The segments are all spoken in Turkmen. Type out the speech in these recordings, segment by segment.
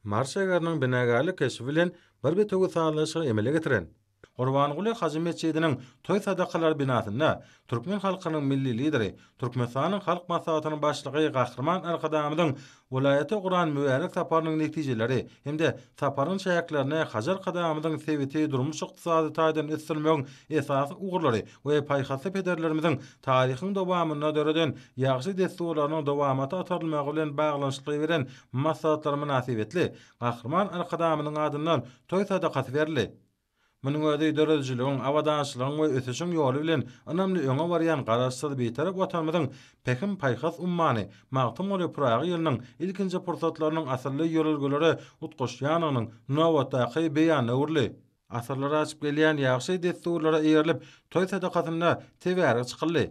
Mars şäheriniň binagärlik keşbi bilen bir bitewi sazlaşygy emele getiren Gurbanguly Hajy metjidiniň toý sadakalary binasynda türkmen halkynyň Milli Lideri, Türkmenistanyň Halk Maslahatynyň Başlygy Gahryman Arkadagymyzyň welaýata uran mübärek saparynyň netijeleri hem-de saparyň çäklerine Hajy Arkadagymyzyň sebiti durmuş-ykdysady taýdan ösdürmegiň esasy ugurlary we paýhasly pederlerimiziň Taryhyň dowamynda döreden ýagşy dessurlarynyň dowamata otarylmagy bilen baglanyşykly beren maslahatlary mynasybetli Gahryman Arkadagymyzyň adyndan toý sadakasy berildi. Munuň özi döredijiligiň, abadançylygyň we ösüşiň ýoly bilen ynamly öňe barýan Garaşsyz, Bitarap Watanymyzyň Pähim-paýhas ummany Magtymguly Pyragy ýylynyň ilkinji pursatlarynyň asylly ýörelgelere utgaşýandygynyň nobatdaky beýanyna öwrüldi. Asyrlar aşyp gelýän ýagşy dessurlara eýerilip, toý sadakasyna tebärek çykyldy.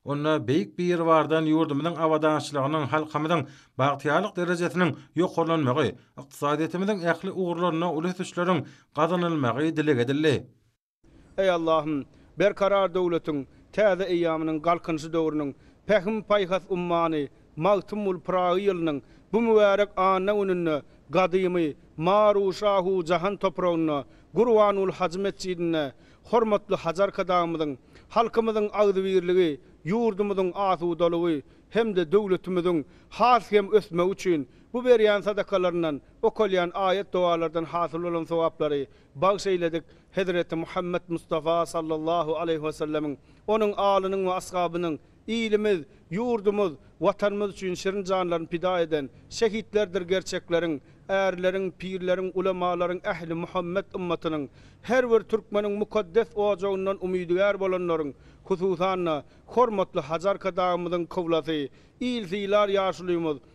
Onda Beýik Biribardan ýurdumyzyň abadançylygynyň, halkymyzyň bagtyýarlyk derejesiniň ýokarlanmagy, ykdysadyýetimiziň ähli ugurlarynda uly ösüşleriň gazanylmagy dileg edildi. Eý Allahym, Berkarar döwletiň täze eýýamynyň Galkynyşy döwrüniň Pähim-paýhas ummany Magtymguly Pyragy ýylynyň bu mübärek anna gününde gadymy Maru-Şahu Jahan topragynda, Gurbanguly Hajy metjidinde hormatly Hajy Arkadagymyzyň halkymyzyň agzybirligi, ýurdumyzyň asudalygy hem-de döwletimiziň has hem ösmegi üçin bu berýän sadakalaryndan, okalýan aýat-dogalardan hasyl bolan sogaplary bagyş eýledik Hezreti Muhammet Mustafa sallallahu aleýhi wesellemiň, onuň alynyň we ashabynyň, Ilimiz, ýurdumyz, Watanymyz üçin şirin janlaryny pida eden şehitlerdir gerçekleriň, ärleriň, pirleriň, ulemalaryň, ähli Muhammet ymmatynyň, her bir türkmeniň mukaddes ojagyndan umydygär bolanlaryň, hususan-da, hormatly Hajarka dagymyzyň kyblasy, il sylar ýaşulymyz,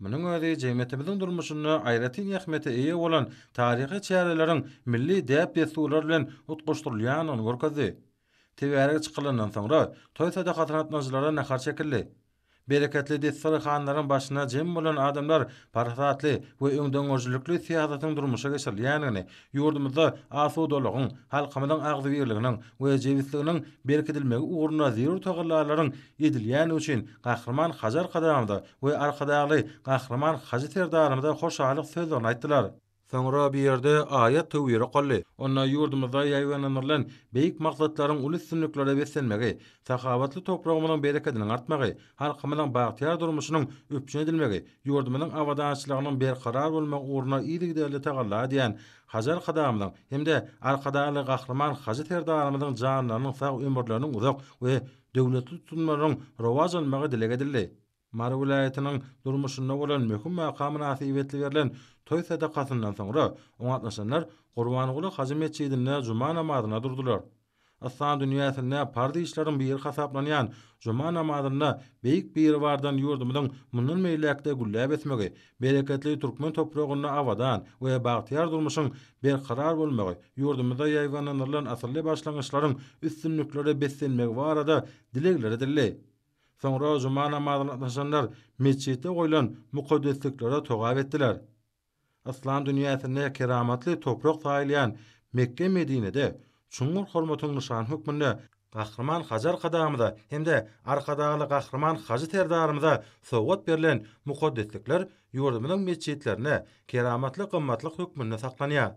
Munuň özi jemgyýetimiziň durmuşynda aýratyn ähmiýete eýe bolan taryhy çäreleriň milli däp-dessurlar bilen utgaşdyrylýandygyny görkezdi. Teberik çykylandan soňra, toý sadakasyna gatnaşyjylara nahar çekildi. Bereketli desterihanaryň başyna jem bolan adamlar parasatly we öňdengörüjilikli syýasatyň durmuşa geçirilýändigini Ýurdumyzda asudalygyň, halkymyzyň agzybirliginiň we jebisliginiň berkidilmegi ugrunda zerur tagallalaryň edilýändigi üçin Gahryman Hajy Arkadagymyza we Arkadagly Gahryman Hajy Serdarymyza hoşallyk sözlerini aýtdylar. Soňra bu ýerde aýat-töwir okaldy. Onda ýurdumyzda ýaýbaňlandyrylan beýik maksatlaryň uly üstünliklere beslenmegi, sahawatly topragymyzyň berekediniň artmagy, halkymyzyň bagtyýar durmuşynyň üpjün edilmegi, ýurdumyzyň abadançylygynyň berkarar bolmagy ugrunda yzygiderli tagalla edýän Hajy Arkadagymyzyň hem-de Arkadagly Gahryman Hajy Serdarymyzyň janlarynyň sag, ömürleriniň uzak we döwletli tutumlarynyň rowaç almagy dileg edildi. Mary welaýatynyň durmuşynda bolan möhüm waka mynasybetli berlen toý sadakasyndan soňra oňa gatnaşanlar Gurbanguly Hajy metjidinde juma namazyna durdular. Yslam dünýäsinde parz işleriň biri hasaplanýan juma namazynda Beýik Biribardan ýurdumyzyň mundan beýläk-de gülläp ösmegi, bereketli türkmen topragynda abadan we bagtyýar durmuşyň berkarar bolmagy, ýurdumyzda ýaýbaňlandyrylan asylly başlangyçlaryň üstünliklere beslenmegi barada dilegler edildi. Soňra juma namazyna gatnaşanlar metjitde goýlan mukaddesliklere togap etdiler. Yslam dünýäsinde keramatly toprak saýylýan Mekge-Medinede çuňňur hormatyň nyşany hökmünde Gahryman Hajy Arkadagymyza hem-de Arkadagly Gahryman Hajy Serdarymyza sowgat berlen mukaddeslikler ýurdumyzyň metjitlerinde keramatly gymmatlyk hökmünde saklanýar.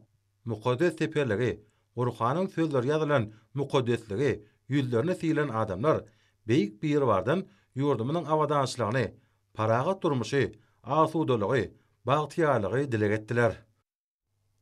Mukaddes teperligi, Gurhanyň sözleri ýazylan mukaddesligi, ýüzlerini sylan adamlar Beýik Biribardan ýurdumyzyň abadançylygyny, parahat durmuşy, asudalygy, bagtyýarlygy dileg etdiler.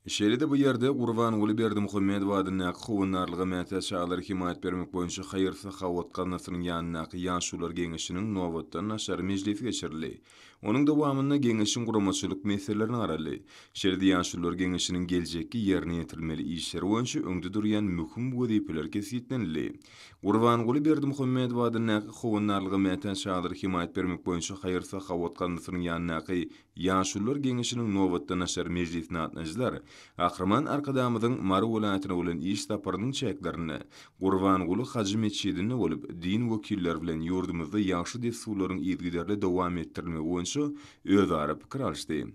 Şeýle-de bu ýerde Gurbanguly Berdimuhamedow adyndaky Howandarlyga mätäç çagalara hemaýat bermek boýunça haýyr-sahawat gaznasynyň ýanyndaky Ýaşulular geňeşiniň nobatdan daşary mejlisi geçirildi. Onuň dowamynda Geňeşiň guramaçylyk meselelerine garaldy. Şeýle-de Ýaşulular Geňeşiniň geljekki ýerine ýetirilmeli işleri boýunça öňde durýan möhüm wezipeler kesgitlenildi. Gurbanguly Berdimuhamedow adyndaky Howandarlyga mätäç çadyra hemaýat bermek boýunça haýyr-sahawat gazanasynyň ýanyndaky Ýaşulular Geňeşiniň nobatdan-aşar mejlisine gatnaýjylar Gahryman Arkadagymyzyň Mary welaýatyna bolan iş saparynyň çäklerinde Gurbanguly Hajy metjidinde bolup, din wekilleri bilen ýurdumyzda ýagşy dessurlaryň yzygiderli dowam etdirilmegi boýunça özara pikir alyşdy.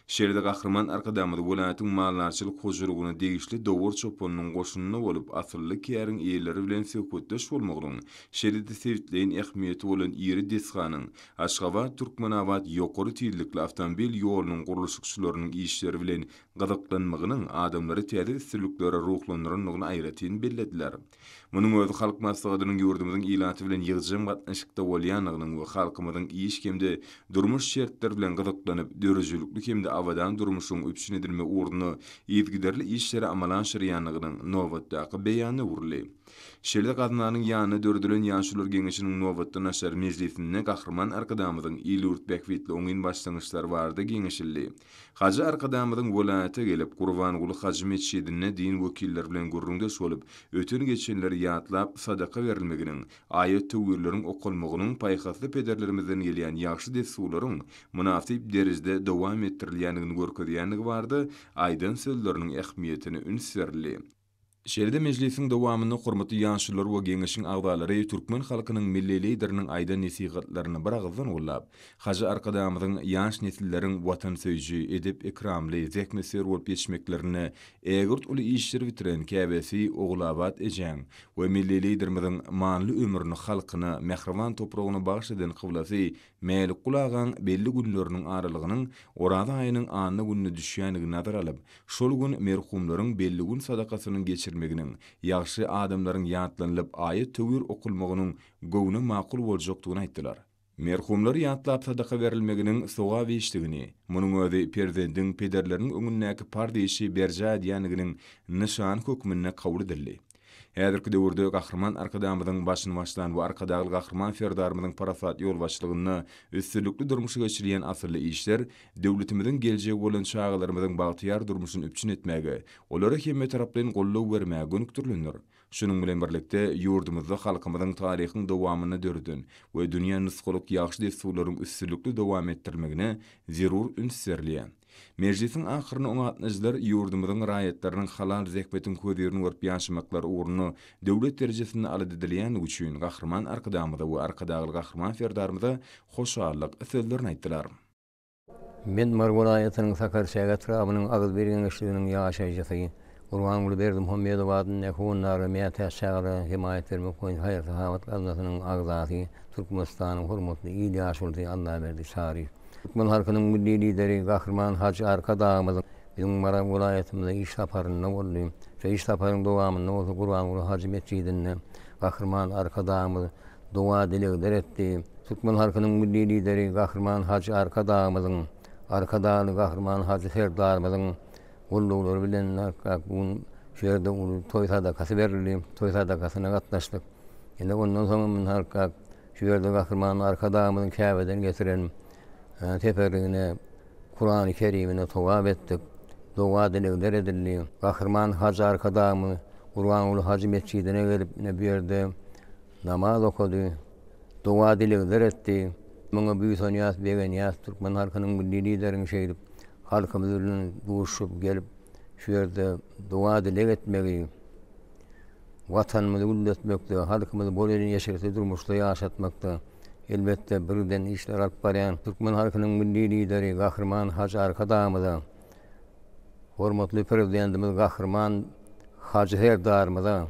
Şeýle-de Gahryman Arkadagymyz welaýatyň maldarçylyk hojalygyna degişli Dowur çopanynyň goşunynda bolup, asylly käriň eýeleri bilen söhbetdeş bolmagynyň, şeýle-de sebitleýin ähmiýeti bolan iri desganyň, Aşgabat-Türkmenabat ýokary tizlikli awtomobil ýolunyň gurluşykçylarynyň işleri bilen gyzyklanmagynyň adamlary täze üstünliklere ruhlandyrandygyny aýratyn bellediler. Munuň özi Halk Maslahatynyň ýurdumyzyň ilaty bilen ýygjam gatnaşykda bolýandygynyň we halkymyzyň iş hem-de durmuş şertleri bilen gyzyklanyp, döredijilikli hem-de abadan durmuşyň üpjün edilmegi ugrunda yzygiderli işleri amala aşyrýandygynyň nobatdaky beýany öwrüldi. Şeýle-de Gaznanyň ýanynda döredilen Ýaşulular geňeşiniň nobatdan-aşar mejlisinde Gahryman Arkadagymyzyň il-ýurt bähbitli oňyn başlangyçlary barada geňeşildi. Hajy Arkadagymyzyň welaýata gelip, Gurbanguly hajy metjidinde din wekilleri bilen gürrüňdeş bolup, öten-geçenleri ýatlap, sadaka berilmeginiň, aýat-töwirleriň okalmagynyň paýhasly pederlerimizden gelýän ýagşy dessurlaryň mynasyp derejede dowam etdirilýändigini görkezýändigi barada aýdan sözleriniň ähmiýetine üns berildi. Şeýle-de mejlisiň dowamynda hormatly ýaşulylar we Geňeşiň agzalary türkmen halkynyň Milli Lideriniň aýdan nesihatlaryny biragyzdan gollap, Hajy Arkadagymyzyň ýaş nesilleriň watansöýüji, edep-ekramly, zähmetsöýer bolup ýetişmeklerinde ägirt uly işleri bitiren käbesi Ogulabat ejäň we Milli Liderimiziň manyly ömrüni halkyna, mähriban topragyna bagyş eden kyblasy Mälikgul agaň belli günleriniň aralygynyň Oraza aýynyň anna gününe düşýändigini nazara alyp, şol gün merhumlaryň belli gün sadakasynyň geçirilmeginiň, ýagşy adamlaryň ýatlanylyp, aýat-töwir okulmagynyň göwne makul boljakdygyny aýtdylar. Merhumlary ýatlap sadaka berilmeginiň sogap işdigini, munuň özi perzendiň pederleriniň öňündäki parz işi berjaý edýändiginiň nyşany hökmünde kabul edildi. Häzirki döwürde Gahryman Arkadagymyzyň başyny başlan we Arkadagly Gahryman Serdarymyzyň parasatly ýolbaşçylygynda üstünlikli durmuşa geçirilýän asylly işler döwletimiziň geljegi bolan çagalarymyzyň bagtyýar durmuşyny üpjün etmäge, olara hemmetaraplaýyn goldaw bermäge gönükdirilendir. Şunuň bilen birlikde, ýurdumyzda halkymyzyň taryhyň dowamynda döreden we dünýä nusgalyk ýagşy dessurlaryň üstünlikli dowam etdirilmegine zerur üns berilýär. Mejlisiň ahyrynda oňa gatnaýjylar ýurdumyzyň raýatlarynyň halal zähmetiň hözürini görüp ýaşamaklary ugrunda döwlet derejesinde alat edilýändigi üçin Gahryman Arkadagymyza we Arkadagly Gahryman Serdarymyza hoşallyk sözlerini aýtdylar. Medmar welaýatynyň Sakarçäge etrabynyň Agyzbir geňeşliginiň ýaşaýjysy Gurbanguly Berdimuhamedow adyndaky Hondaga mätäç çagalara hemaýat bermek boýunça haýyr-sahawat gaznasynyn agzasy, Türkmenistanyň hormatly il ýaşulusy Allaberdi Çaryýew. Türkmen halkynyň Milli Lideri Gahryman Hajy Arkadagymyzyň biziň Maral welaýatymyza iş saparynda boldy. Şu iş saparyň dowamynda bolsa Gurbanguly hajy metjidinde Gahryman Arkadagymyz doga-dilegler etdi. Türkmen halkynyň Milli Lideri Gahryman Hajy Arkadagymyzyň, Arkadagly Gahryman Hajy Serdarymyzyň, gulluklary bilen kak bu gün şu ýerde uly toý sadakasy berildi. Toý sadakasyna gatnaşdyk. Ine ondan soňam indi halk kak şu ýerde Gahryman Arkadagymyzyň Käbeden getiren teberrügine Kurany Kerimine togap etdik. Doga-dilegler edildi. Gahryman Hajy Arkadagymyz Gurbanguly Hajy metjidine gelip, ine bu ýerde namaz okady. doga-dilegler etdi. Muňa buýsanýas, begenýäs, türkmen halkynyň Milli Lideriň şeýdip halkymyz bilen duşup gelip, şu ýerde doga-dileg etmegi, Watanymyzy gülletmekde, halkymyzy bol elin eşretli durmuşda ýaşatmakda, elbetde, birden işler alyp barýan türkmen halkynyň Milli Lideri Gahryman Hajy Arkadagymyza, hormatly Prezidentimiz Gahryman Hajy Serdarymyza,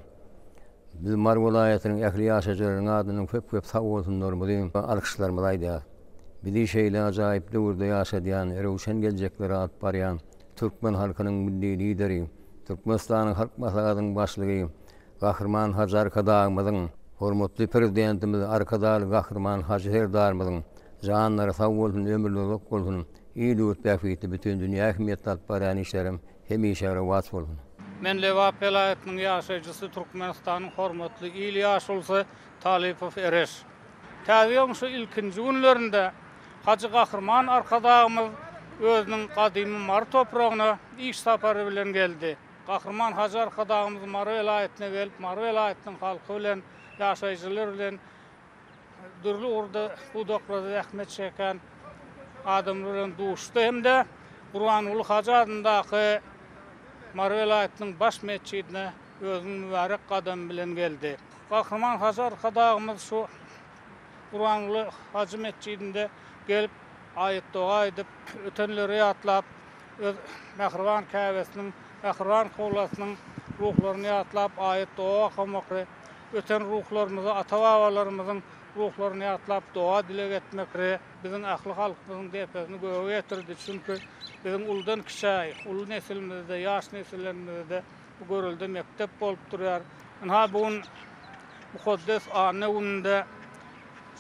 Biz Mary welaýatynyň ähli ýaşaýjylarynyň adyndan köp-köp sag bolsunlarymyzy, alkyşlarymyzy aýdýarys. Bizi şeýle ajaýyp döwürde ýaşadýan, röwşen geljeklere alyp barýan türkmen halkynyň Milli Lideri, Türkmenistanyň Halk Maslahatynyň Başlygy Gahryman Hajy Arkadagymyzyň, hormatly Prezidentimiz Arkadagly Gahryman Hajy Serdarymyzyň janlary sag bolsun, ömürleri uzak bolsun, il-ýurt bähbitli, bütin dünýä ähmiýetli alyp barýan işlerem Hemişe rowaç bolsun. Men Lebap welaýatynyň ýaşaýjysy Türkmenistanyň hormatly il ýaşulusy Talypow Ereş. Täze ýylyň şu ilkinji günlerinde Hajy Gahryman Arkadagymyz özüniň gadymy Mary topragyna iş sapary bilen geldi. Gahryman Hajy Arkadagymyz Mary welaýatyna gelip Mary welaýatynyň halky bilen, ýaşaýjylar bilen, dürli ugurda pudaklarda zähmet çeken adamlar bilen duşdy hem-de Gurbanguly Hajy adyndaky Mary welaýatynyň baş metjidine özüniň mübärek gadamy bilen geldi. Gahryman Hajy Arkadagymyz şu Gurbanguly Hajy metjidinde gelip, aýat-doga edip, ötenleri ýatlap, öz mähriban Käbesiniň, mähriban kyblasynyň ruhlaryny ýatlap, aýat-doga okamakly Öten ruhlarymyzy, ata-babalarymyzyň ruhlaryny ýatlap, doga-dileg etmek re, biziň ähli halkymyzyň depesini göge getirdi. Çünki, biziň uludan-kiçä, uly nesilimize-de, ýaş nesillerimize-de bu görelde mekdep bolup durýar. Ynha, bu gün mukaddes anna gününde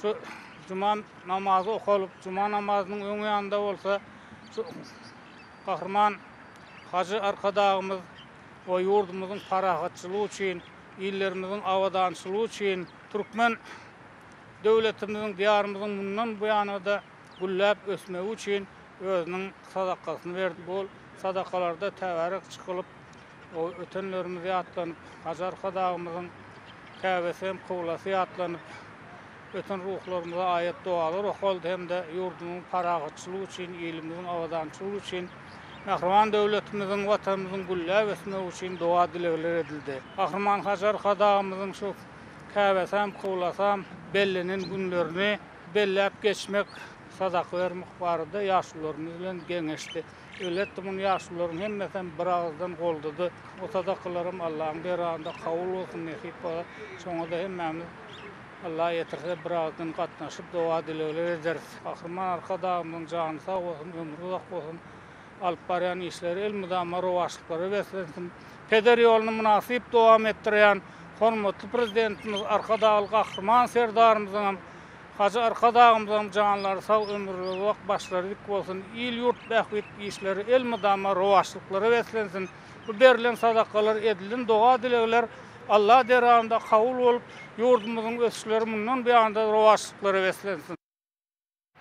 şu juma namazy okalyp, juma namazynyň öňýanynda bolsa şu Gahryman Hajy Arkadagymyz we ýurdumyzyň parahatçylygy üçin, illerimiziň abadançylygy üçin türkmen döwletimiziň, Diýarymyzyň mundan buýana-da gülläp ösmegi üçin özüniň sadakasyny berdi. Bu sadakalarda täbärik çykylyp, ötenlerimiz ýatlanyp, Hajy Arkadagymyzyň Käbesi hem, kyblasy ýatlanyp, Öten ruhlarymyza aýat-dogalar okaldy hem-de ýurdumyzyň parahatçylygy üçin, ilimiziň abadançylygy üçin, mähriban döwletimiziň, Watanymyzyň gülläp ösmegi üçin doga-dilegler edildi. Gahryman Hajy Arkadagymyzyň şu käbäsam, kyblasam bellenen günlerini belläp geçmek, sadaka bermek barada ýaşulularymyz bilen geňeşdi. Elbetde, muny ýaşulularyň hemmesem biragyzdan goldady. O sadakalaram Allahyň dergahynda kabul bolsun, nesip bolsa, şoňa-da hemmämiz. Allah ýetirse birazdan gatnaşyp doga dilegler ederis. Gahryman Arkadagymyzyň jany sag bolsun, ömri uzak bolsun, alyp barýan işleri elmydama rowaçlyklara beslensin. Peder ýoluny mynasyp dowam etdirýän hormatly Prezidentimiz Arkadagly Gahryman Serdarymyzyňam, Hajy Arkadagymyzyňam janlary sag, ömürleri uzak, başlary dik bolsun, il-ýurt bähbit işleri elmydama rowaçlyklara beslensin. Bu berlen sadakalar, edilen doga-dilegler Alla dergahynda kabul bolup, ýurdumyzyň ösüşleri mundan beýanda-da rowaçlyklara beslensin!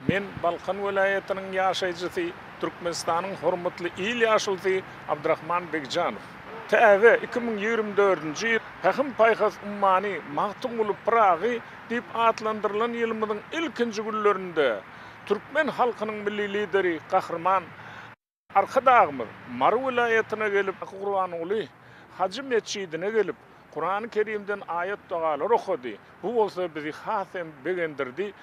Men Balkan welaýatynyň ýaşaýjysy, Türkmenistanyň hormatly il ýaşulusy Abdrahman Begjanow. Täze iki müň ýigrimi dördünji ýyl Pähim-paýhas ummany Magtymguly Pyragy diýip atlandyrylan ýylymyzyň ilkinji günlerinde türkmen halkynyň Milli Lideri Gahryman Arkadagymyz Mary welaýatyna gelip, Gurbanguly Hajy metjidine gelip, Kurany Kerimden aýat-dogalar okady. Bu bolsa bizi has hem begendirdi,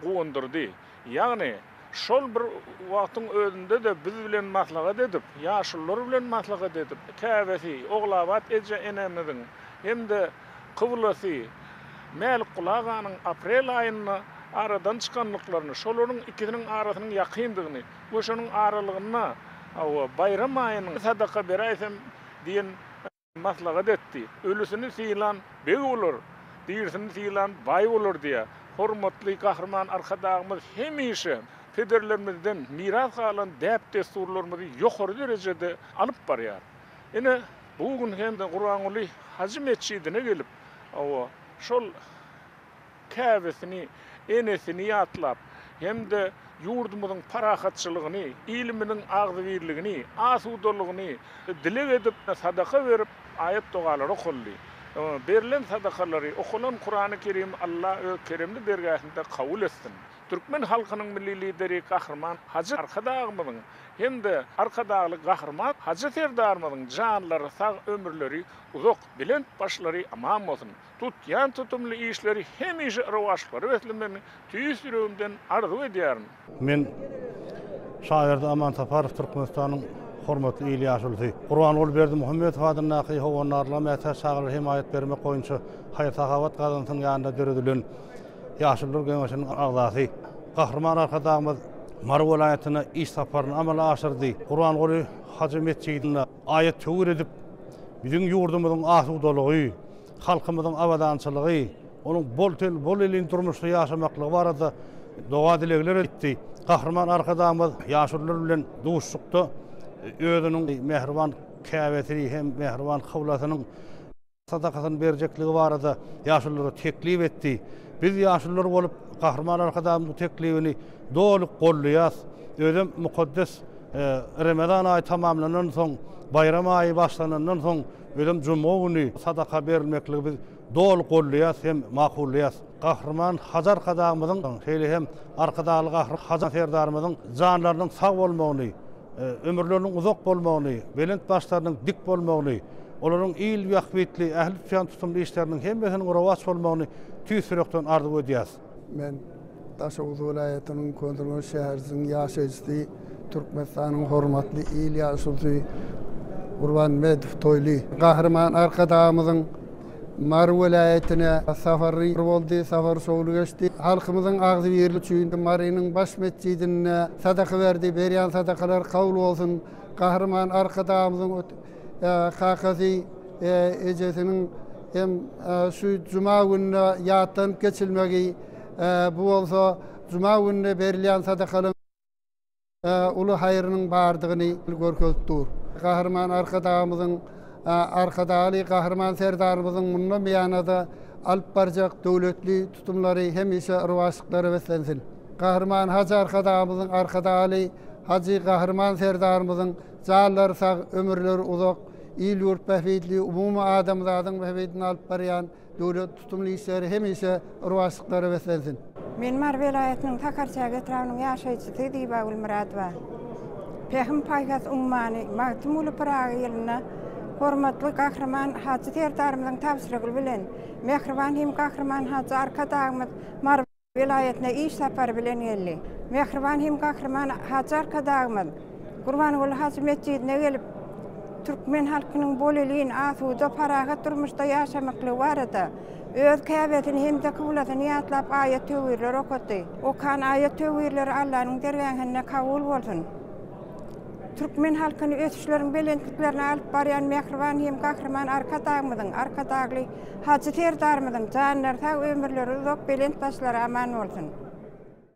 guwandyrdy. Ýagny, şol bir wagtyň özünde-de biz bilen maslahat edip, ýaşulular bilen maslahat edip, käbesi Ogulabat eje-enemiziň hem-de kyblasy Mälikgula aganyň aprel aýynda aradan çykandyklaryny, şolaryň ikisiniň arasynyň ýakyndygyny, we şonuň aralygynda baýram aýynyň sadaka beräýsem diýen maslahat etdi. Ölüsini sylan beg bolar, dirisini sylan baý bolar diýýär. Hormatly Gahryman Arkadagymyz hemişe pederlerimizden miras galan däp-dessurlarymyzy ýokary derejede alyp barýar. Ine, bu gün hem Gurbanguly Hajy metjidine gelip, şol. käbesini, enesini ýatlap hem-de ýurdumyzyň parahatçylygyny, ilimiziň agzybirligini, asudalygyny dileg edip, sadaka berip, aýat-dogalary okaldy. Berlen sadakalary, okalan Kurany Kerim Alla öz keremli dergähinde kabul etsin! Türkmen halkynyň Milli Lideri Gahryman Hajy Arkadagymyzyň hem-de Arkadagly Gahryman Hajy Serdarymyzyň janlary sag, ömürleri uzak, belent başlary aman bolsun! tutýan tutumly işleri hemişe rowaçlyklara beslemegini tüýs ýüregimden arzuw edýärin. Men şaýyrdy Aman Saparow Türkmenistanyň hormatly il ýaşulusy, Gurbanguly Berdimuhamedow adyndaky Howandarlyga mätäç çagalara hemaýat bermek boýunça haýyr-sahawat gazansynyň ýanynda döredilen Ýaşulular geňeşiniň agzasy. Gahryman Arkadagymyz Mary welaýatyna iş saparyny amala aşyrdy. Gurbanguly Hajy metjidinde aýat-töwir edip, biziň ýurdumyzyň asudalygy, halkymyzyň abadançylygy, onuň bol-ten, bol-elin durmuşda ýaşamaklygy barada doga-dilegler etdi. Gahryman Arkadagymyz ýaşulular bilen duşuşykda özüniň mähriban käbesini hem mähriban kyblasynyň sadakasyny berjekligi barada ýaşululara teklip etdi. Biz ýaşulular bolup, Gahryman Arkadagymyzyň bu teklibini doly goldaýas. Özem mukaddes Remezan aýy tamamlanandan soň, baýram aýy başlanandan soň, Özem juma güni sadaka berilmekligi biz doly golleýas hem makullaýas. Gahryman Hajar Arkadagymyzyň, şeýle hem Arkadagly Gahryman Hajar Serdarymyzyň janlarynyň sag bolmagyny, ömürleriniň uzak bolmagyny, belent başlarynyň dik bolmagyny, olaryň il bähbitli, ähli tutýan tutumly işleriniň hemmesiniň rowaç bolmagyny tüýs ýürekden arzuw edýäs. Men Daşoguz welaýatynyň Köneürgenç şäheriniň ýaşaýjysy, Türkmenistanyň hormatly il ýaşulysy Gurbanmedow Toýly. Gahryman Arkadagymyzyň Mary welaýatyna sapary boldy, sapary şowly geçdi. Halkymyzyň agzybirligi üçin Marynyň baş metjidinde sadaka berdi. Berýän sadakalary kabul bolsun! Gahryman Arkadagymyzyň. Kakasy, ejesiniň hem şu juma gününe ýatlanyp geçilmegi, bu bolsa juma gününe berilýän sadakalaryň uly haýrynyň bardygyny görkezip dur. Gahryman Arkadagymyzyň, Arkadagly Gahryman Serdarymyzyň mundan beýana-da alyp barjak döwletli tutumlary hemişe rowaçlyklara beslensin! Gahryman Hajy Arkadagymyzyň, Arkadagly Hajy Gahryman Serdarymyzyň Janlary sag, ömürleri uzak, il-ýurt bähbitli, umumy adamzadyň bähbidine alyp barýan döwlet tutumly işleri hemişe rowaçlyklara beslensin! Men Mary welaýatynyň Sakarçäge etrabynyň ýaşaýjysy Ziba Gulmyradowa. Pähim-paýhas ummany Magtymguly Pyragy ýylynda hormatly Gahryman Hajy Serdarymyzyň tabşyrygy bilen, mähriban hem Gahryman Hajy Arkadagymyz Mary. welaýatyna iş sapary bilen geldi. Mähriban hem gahryman Hajy Arkadagymyz Gurbanguly hajy metjidine gelip, türkmen halkynyň bolelin, asuda, parahat durmuşda ýaşamaklygy barada öz Käbesini hem-de kyblasyny ýatlap aýat-töwirler okatdy. Okan aýat-töwirleri Allanyň dergähinde kabul bolsun! Türkmen halkyny ösüşleriň belentliklerine alyp barýan mähriban hem gahryman Arkadagymyzyň, Arkadagly Hajy Serdarymyzyň janlary sag, ömürleri uzak, belent başlary aman bolsun!